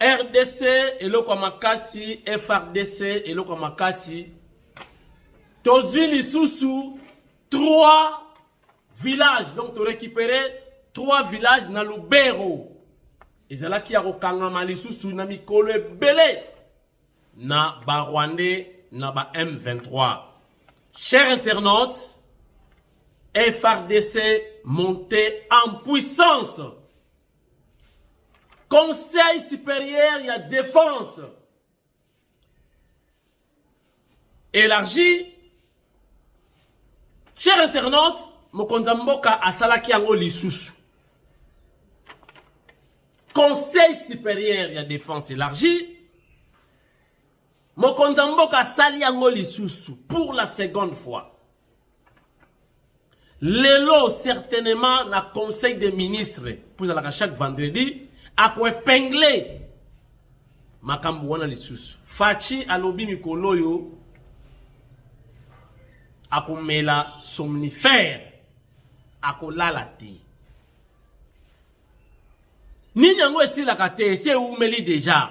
rdc eloko ya makasi frdc eloko ya makasi tozwi lisusu 3 village donc torécupere 3 village na lubero ezalaki ya kokangama lisusu na mikolo ebele na barwandais na ba m23 cher internaute frdc monte en puissance Conseil supérieur ya défense élargi cher internaute mokonzi ya mboka asalaki yango lisusu conseil supérieur ya défense élargie Mokonzi ya mboka asali yango lisusu pour la seconde fois. Lelo certainement na conseil des ministres, pour la chaque vendredi, ako epingler makambo wana lisusu. Fachi alobi mikolo oyo akomela somnifère akolala te. Nini yango esilaka te, esi eumeli deja.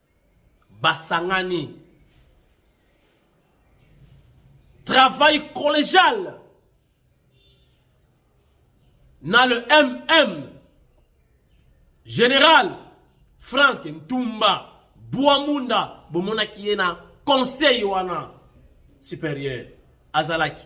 basangani travail collégial na le MM général Frank Ntumba Buamunda bomonaki ye na conseil wana supérieur azalaki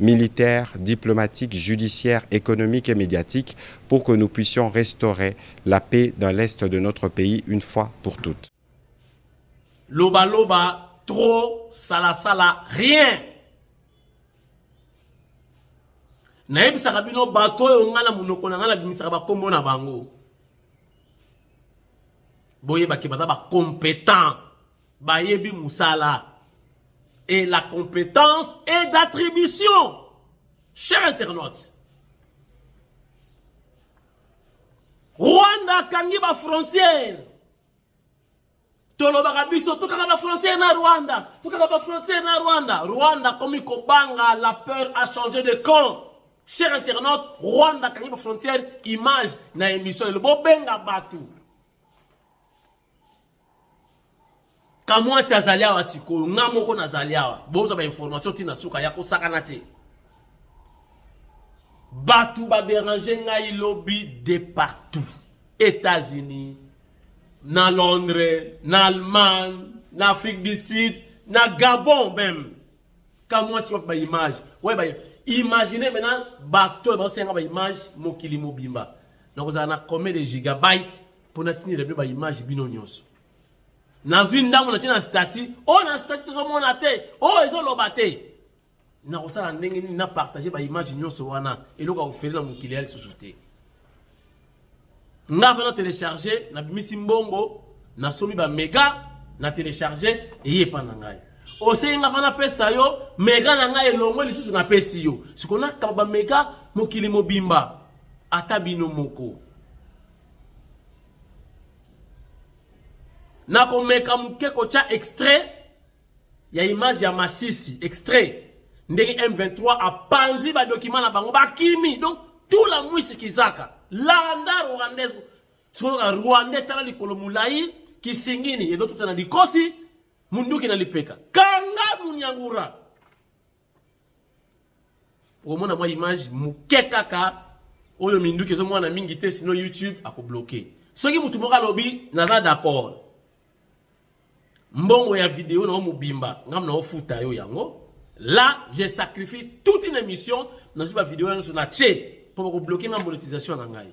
militaire, diplomatique, judiciaire, economique et mediatique pour que nous puissions restaurer la paix dans l'est de notre pays une fois pour toutes. Loba loba, trop, sala sala, rien. nayebisaka bino bato oyo ngai na monoko na ngai nabimisaka bakombo na bango boyebaki baza bacompétent bayebi musala et la compétence est d'attribution cher internaute rwanda akangi bafrontière tolobaka biso tokanga bafrontière na rwanda tokanga bafrontière na rwanda rwanda akomi kobanga la peur a changé de camp cher internaute rwanda akangi bafrontière image na émission lelo bobenga bato kamwasi azali awa sikoyo nga moko nazali awa bozwa bainformation ti na suka ya kosakana te bato baderange ngai lobi de partout états-unis na londres na allemagne na afrique du sud na gabon meme kamwasi wapi baimage waye ba imagine maintenant bato oyo baosenga baimage mokili mobimba nakozala na combien de gigabyte mpo natinela bino baimage bino nyonso nazwi ndambo natie na stati oyo oh, na stati tozomona te oyo oh, ezoloba te nakosala ndenge nini na partage baimage nyonso wana eloko ya kofele na mokili ya lisusu te nga vana telecharge nabimisi mbongo nasomi bamega na telecharge eye epa na ngai osengi nga vana pesa yo mega na ngai elongo lisusu napesi yo sikoyo nakaba bamega mokili mobimba ata bino moko nakomeka moke kotya extrait ya image ya masisi extrait ndenge m23 apanzi badokima na bango bakimi donc tout la mwisi kizaka landa rwandais soka rwandais tala likolo molai kisingini ezotuta na likosi munduki na lipeka kanga munyangura okomona mwa image moke kaka oyo minduki ezomwana mingi te sino youtube akobloke soki motu moko alobi naza d'accord mbongo ya video nango mobimba ngambo naofuta yo yango là je sacrifie toute une émission nazwi bavideo nyonso na tie mpo bakobloke nga monétisation na ngai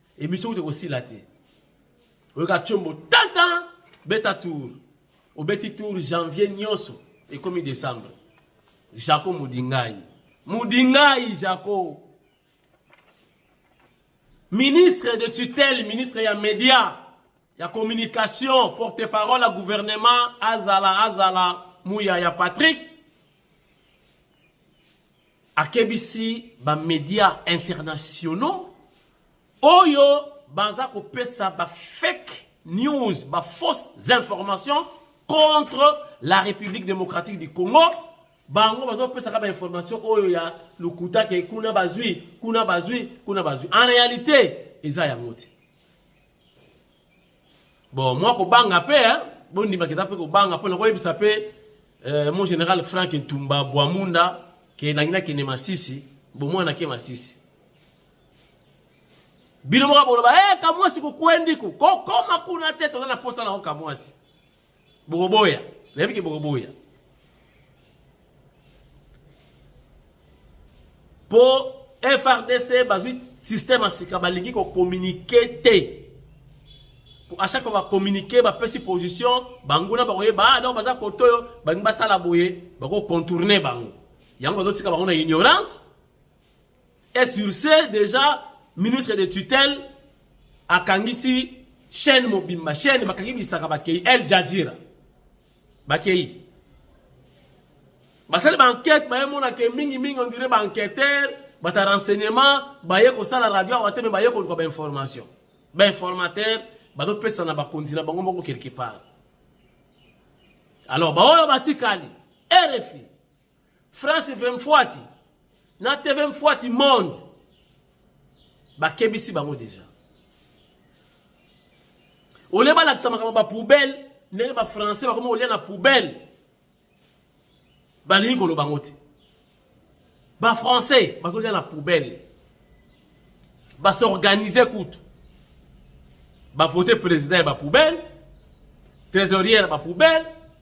Emission kutu ekosila te. Oyoka Tshombo tata beta tour. Obeti tour janvier nyonso ekomi décembre. Jaco Mudingai. Mudingai Jaco. Ministre de tutelle, ministre ya média, ya communication, porte-parole ya gouvernement azala azala muya ya Patrick akebisi ba medias internationaux oyo baza kopesa ba fake news ba fausses informations contre la République démocratique du Congo bango bazopesaka ba information oyo ya lokuta ke kuna bazwi kuna bazwi kuna bazwi en réalité eza yango te Bon, mwa kobanga mpe eh, bondima keza mpe kobanga mpo na koyebisa mpe eh, mon général Frank Ntumba Bwamunda ke nangi nakende Masisi bomwana nake Masisi bino moko boloba hey, eh, kamwasi kokwendiku kokoma kuna te toza na mposa na yo kamwasi bokoboya nayebi ke bokoboya mpo frdc bazwi système ya sika balingi kokominike te à chaque fois bacommunike bapesi position banguna bakoyeba ah, donc baza kote oyo balingi basala boye bakocontourne bango yango bazotika bango na ignorance Et sur ce, déjà, ministre de tutelle akangisi chaîne mobimba chaîne bakangi bisaka bakei El Jadjira bakei basali bankete baye monaka mingi mingi ondire baenquêteur bata renseignement baye kosala radio awa te me baye koluka bainformation bainformateur bazopesa na bakonzi na bango moko quelque part alors baoyo batikali rfi France ve mfuati na TV mfuati monde bakebisi bango deja olie balakisa makambo ba poubelle ndenge ba français bakomi kolia na poubelle balingi koloba yango te ba français bazolia na poubelle basorganize kutu bavote président ya ba poubelle trésorier ya ba poubelle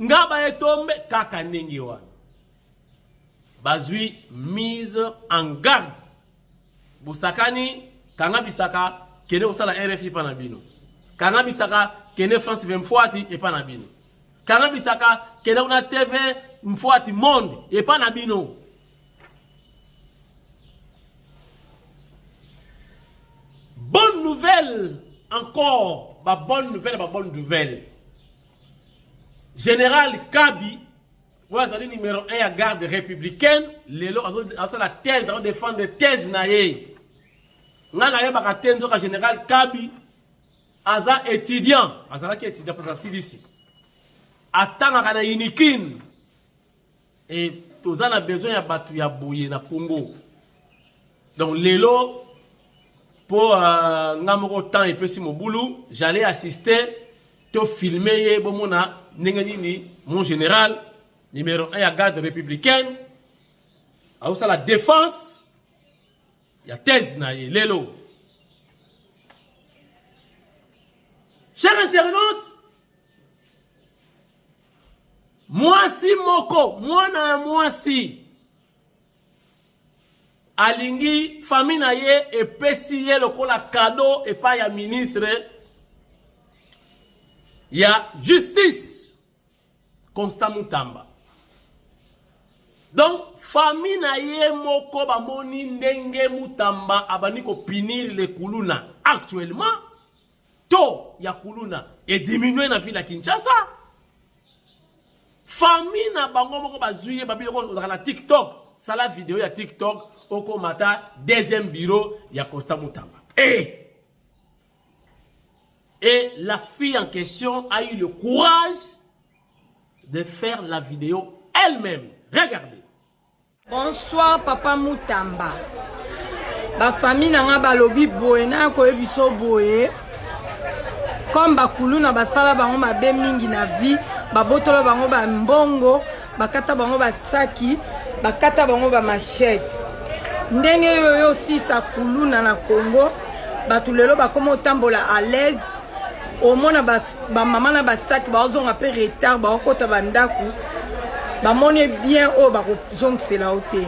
ngaba etombe kaka ndenge wana bazwi mise en garde bosakani kanga bisaka kende kosala rfi epa na bino kanga bisaka kende france 20 mfuati epa na bino kanga bisaka kende kuna tv mfuati monde epa na bino Bonne nouvelle encore, ba bonne nouvelle, ba bonne nouvelle. Général Kabi, vous avez numéro 1 à garde républicaine, lelo azo la thèse, azo défendre thèse naïe. Nga naïe baka tenzo ka général Kabi, aza étudiant, aza la ki étudiant pour la CDC. Atanga kana unikin, Et toza na besoin ya batu ya boye na Congo. Donc lelo po uh, nga moko temps epesi mobulu, j'allais assister to filmer ye bomona ndenge nini mon général numéro 1 ya garde républicaine aosala défense ya thèse na ye lelo cher internaute Mwasi moko, mwana ya mwasi alingi famille na ye epesi ye lokola kado epai ya ministre ya justice Constant Mutamba. Donc famille na ye moko bamoni ndenge Mutamba abandi kopinir le kuluna actuellement taux ya kuluna ediminue na ville ya kinshasa famille na bango moko bazwi ye babi oko ozalaka na tiktok sala video ya tiktok okomata deuxième bureau ya costa mutamba e et la fille en question a eu le courage de faire la vidéo elle-même regardez Bonsoir papa Mutamba. Ba famille na nga balobi boye na koyebiso boye. Comme bakuluna basala bango mabe mingi na vie, babotola bango ba mbongo, bakata bango basaki, bakata bango ba machette. Ndenge yo yo sisa kuluna na Congo, bato lelo bakoma otambola à l'aise, omona ba bamama na basaki baozonga mpe retard baokota bandako bamoni bien oyo bakozongisela yo te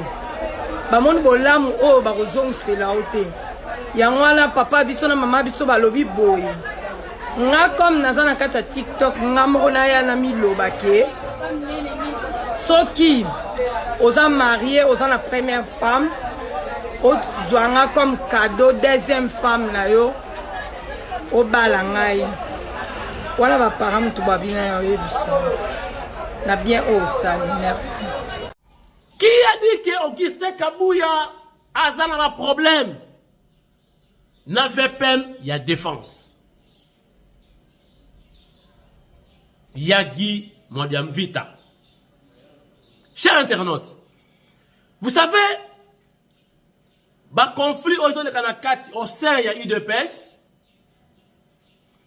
bamoni bolamu oyo bakozongisela yo te yango wana papa biso na mama biso balobi boye nga comme naza na kati ya tiktok nga moko naya namiloba ke soki oza marie oza na première femme ozwa nga comme cadeau deuxième femme na yo obala ngai wana bapara motu babina ya oyebisa na bien oyo osali merci ki a dit ke augustin kabuya aza na baproblème na vpm ya défense ya guy modiamvita cher internaute vous savez ba conflit oyo ezoleka na kati au sein ya udps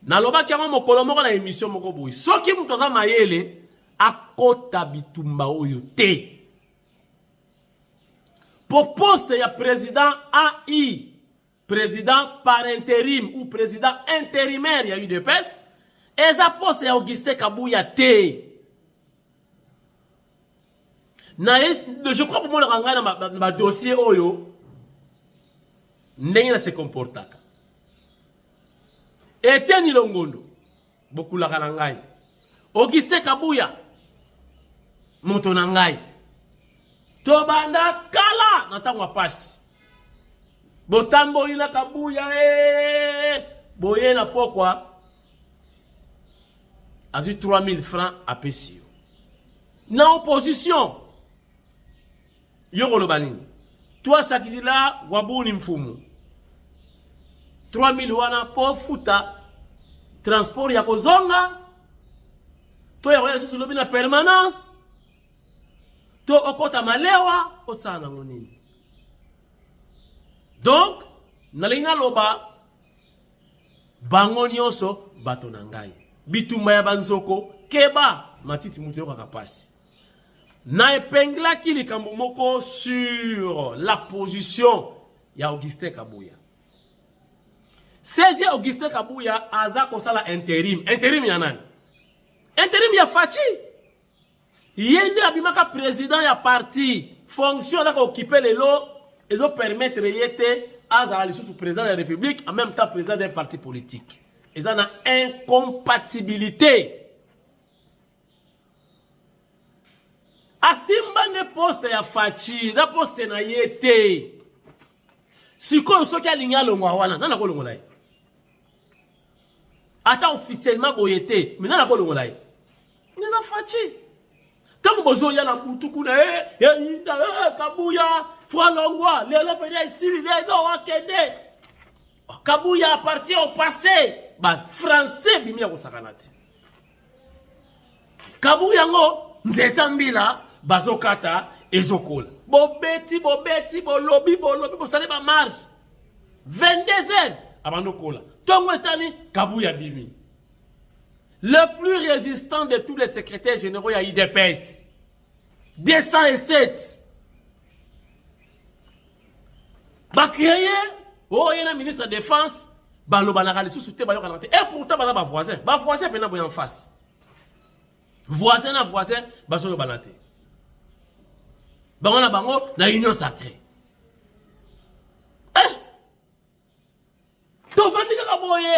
nalobaki yango mokolo moko na emission moko boye soki moto aza mayele akota bitumba oyo te po poste ya president ai president par interim ou president intérimaire ya udps eza poste ya auguste kabuya te na je crois bomonaka ngai na badossier oyo ndenge na se comportaka eteni longondo bokulaka na ngai auguste kabuya moto na ngai tobanda kala na ntango ya mpasi botamboli na kabuya ee eh, boye na pokwa azwi 3000 francs apesi yo na opposition yo koloba nini twasakilila wabuni mfumu 3000 wana mpo ofuta transport ya kozonga to ya koya lisusu lobi na permanence to okota malewa osala nango nini donc nalingi naloba bango nyonso bato na ngai bitumba ya banzoko keba matiti moto eyokaka mpasi na epenglaki likambo moko sur la position ya augustin kabuya cg augustin kabuya aza kosala interim interim ya nani interim ya faci ye nde abimaka president ya parti fonction azaka okipe lelo ezo permettre ye te azala lisusu président de la république en même temps président d'un parti politique eza na incompatibilité asimba nde poste ya faci na poste na ye te sikoyo soki alingi alongwa wana nani akolongola ye ata officiellement boye te me nani akolongola ye nde na faci ntango bozoya na butu kuna e eyinda e kabuya fwalongwa lelo mpenza esili lelo akende kabuya apartien au passé bafrançais bimi ya kosakana te kabu yango nzeta mbila bazokata ezokola bobeti bobeti bolobi bolobi bosali bamarshe 22 heures abandi okola ntongo etani kabuya abimi le plus résistant de tous les secrétaires généraux ya idps 207 bacreye oyo oh, ye na ministre ya défense balobanaka lisusu te bayokanaka te e pourtant baza bavoisin bavoisin mpena boya face voisin na voisin bazoyobana te bango na bango na union sacrée eh! tovandi kaka boye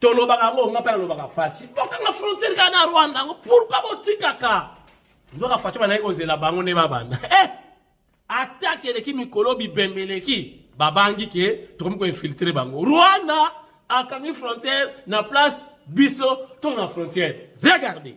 tolobaka yango nga mpe nalobaka faci bokanga frontiere kaka na rwanda yango pourkui botikaka nzoka faci bandaki kozela bango nde babanda eh! atake eleki mikolo bibembe eleki babangi ke tokomi koinfiltre bango rwanda akangi frontiere na place biso to na frontiere regardez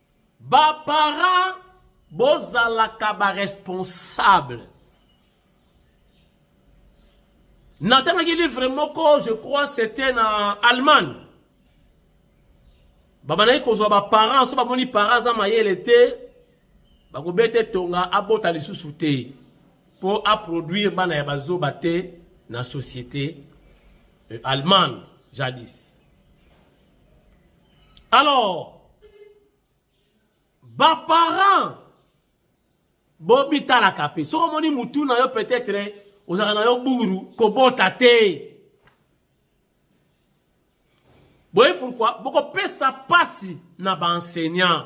Ba parents bozalaka ba responsable. Natangaki livre moko, je crois c'était na Allemagne. Babandaki kozwa ba parents, so bamoni parents aza mayele te, bakobeta etonga abota lisusu te mpo aproduire bana ya bazoba te na société euh, allemande jadis Alors, ba parents bobitalaka mpe soki omoni mutu na yo peut-être ozalaka na yo buru kobota te boye pourquoi bokopesa mpasi na baenseignant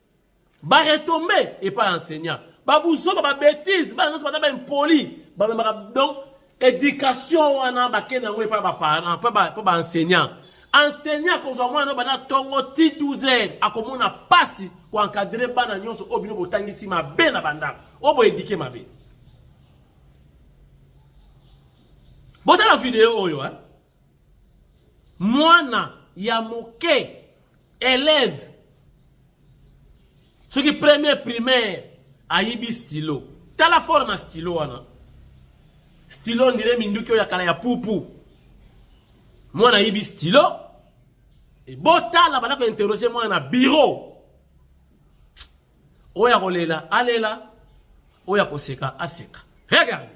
ba retombe epai ya enseignant babuzoba babetise bana nyonso baza baimpoli bamemaka donc éducation wana bakende yango epai baparent mpo baenseignant enseignant akozwa mwana no banda ntongo ti 12 heures akomona mpasi koencadre bana nyonso oyo bino botangisi mabe na bandako oyo boedike mabe botala video oyo eh? mwana ya moke elève soki premier primaire ayibi stylo tala fort na stylo wana stylo ndire minduki oyo ya kala ya pupu mwana ayibi stylo botala banda kointerroge mwana na biro oyo akolela alela oyo akoseka aseka regarde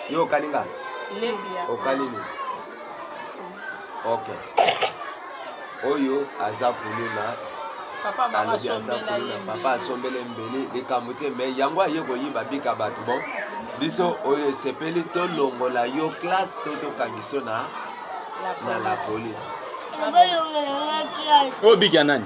yo okani nga okani nini ok oyo aza kuluna alobi aza kuluna papa asombele mbeli likambo te me yango aye koyiba bika bato bon biso oyo esepeli tolongola yo classe to tokangisi yo na na la police oyo biki ya nani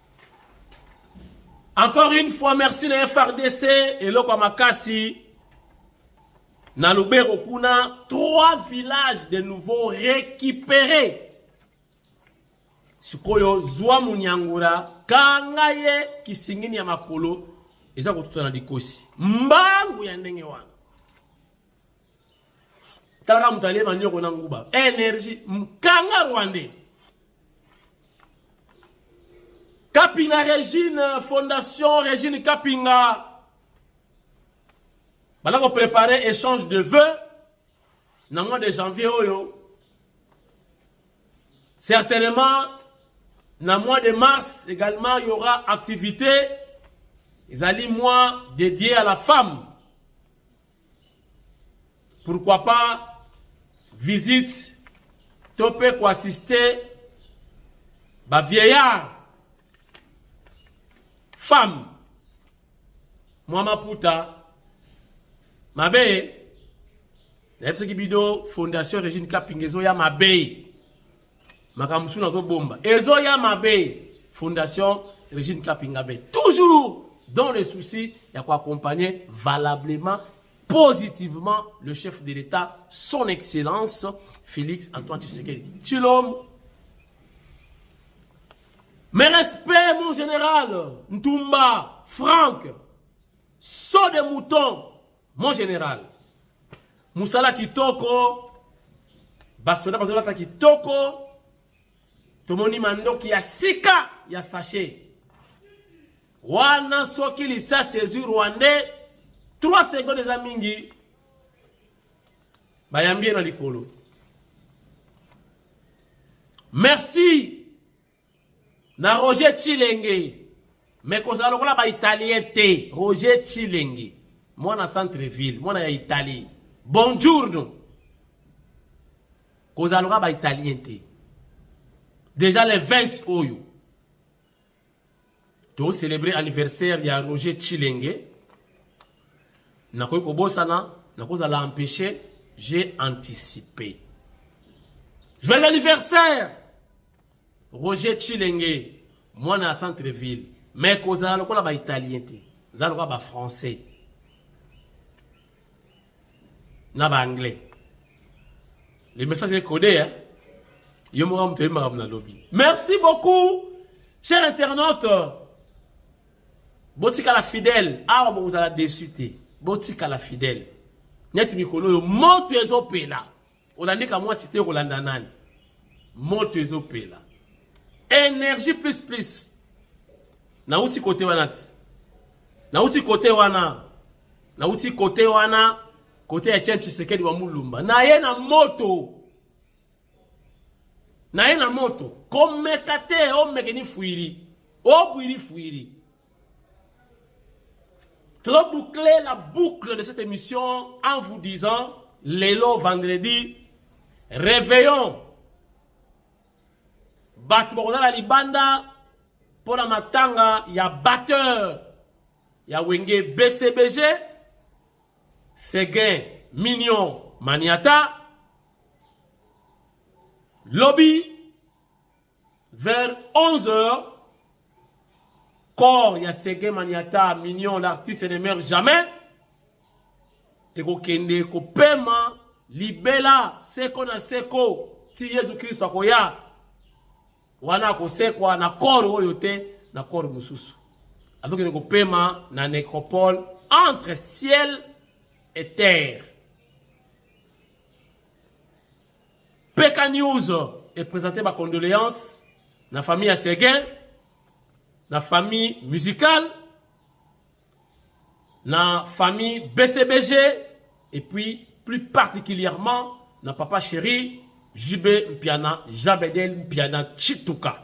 Encore une fois, merci na FRDC, eloko ya makasi. Na Lubero kuna, trois villages de nouveau récupérés. Sikoyo zwa munyangura, kanga ye kisingini ya makolo, eza kotuta na likosi. Mbangu ya ndenge wana. talaka moto alie manioko na nguba energie mkanga rwandais kapinga regine fondation regine kapinga bala koprepare échange de vœux na mois de janvier oyo certainement na mois de mars également il y aura activité ezali mois dédié à la femme pourquoi pas visite to mpe koassiste bavieillard femme mwa maputa mabe nayebisaki bino fondation regine kapinga ezoya mabe makambo mosusu nazobomba ezoya mabe fondation regine kapingabe toujours dans le souci ya koaccompagner valablement positivement le chef de l'état son excellence félix antoine tshisekedi tshilom mes respects mon général ntumba franck saut de mouton Mon general, musala kitoko, basoda bazolata kitoko, tomoni mandoki ya sika ya sachet wana soki lisasi ezwi rwandais 3 seconde eza mingi bayambi ye na likolo merci na Roger Chilenge me kozala lokola ba italien te Roger Chilenge mwana centre ville mwana ya Italie bonjour kozala lokola ba italien te déjà le 20 oyo to célébrer anniversaire ya Roger Chilenge nakoki kobosana nakozala empêcher j'ai anticipé. Joyeux anniversaire Roger Chilenge mwana ya centre ville mais kozala lokola ba italien te za lokola ba français na ba anglais le message est codé hein yo moko moto oyebaka mna lobi merci beaucoup cher internaute botikala fidèle awa bokozala desu te botikala fidèle neti mikolo oyo moto ezopela Olandi kamwasi te okolanda nani? Moto ezopela. Energie plus plus. Nauti kote wana ti. Nauti kote wana. Nauti kote wana. Kote ya Chen Tshisekedi wa Mulumba. Na ye na moto. Na ye na moto. Komeka te omeke ni fuiri. Obwiri fuiri. Trop boucler la boucle de cette émission en vous disant, Lélo vendredi, réveillons bato bakozala libanda mpo na matanga ya batteur ya wenge bcbg seguin mignon maniata lobi Vers 11 heures, corps ya Sege Maniata, Mignon, l'artiste ne meurt jamais, ekokende kopema libela seko na seko ti Yesu Kristo akoya wana akosekwa na corps oyo te na corps mosusu azokende kopema na necropole entre ciel et terre Peka News e présenter ba condoléances na famille ya Seguin, na famille musicale, na famille BCBG et puis plus particulièrement na papa chéri JB Mpiana, Jabedel Mpiana Chituka.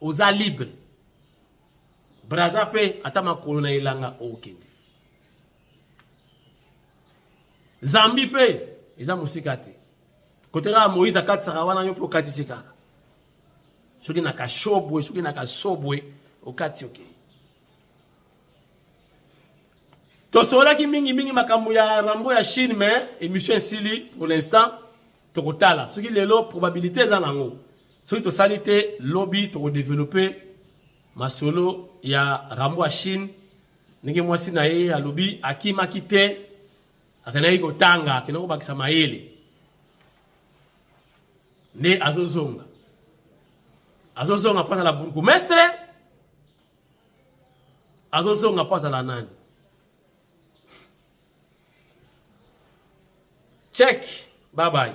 oza libre braza mpe ata makolo na elanga okende zambi mpe eza mosika te kote kaka moïse akatisaka wana yo mpe okatisi kaka soki na kashobwe soki na kasobwe okati okei okay. tosololaki mingi mingi makambo ya rambo ya chine mais émission esili pour l'instant tokotala soki lelo probabilité eza nango soki tosali te lobi tokodeveloppe masolo ya rambo ya chine ndenge mwasi na ye alobi akimaki te akendaki kotanga akendaki kobakisa mayele nde azozonga azozonga mpo azala bourgmestre azozonga mpo azala nani check bye bye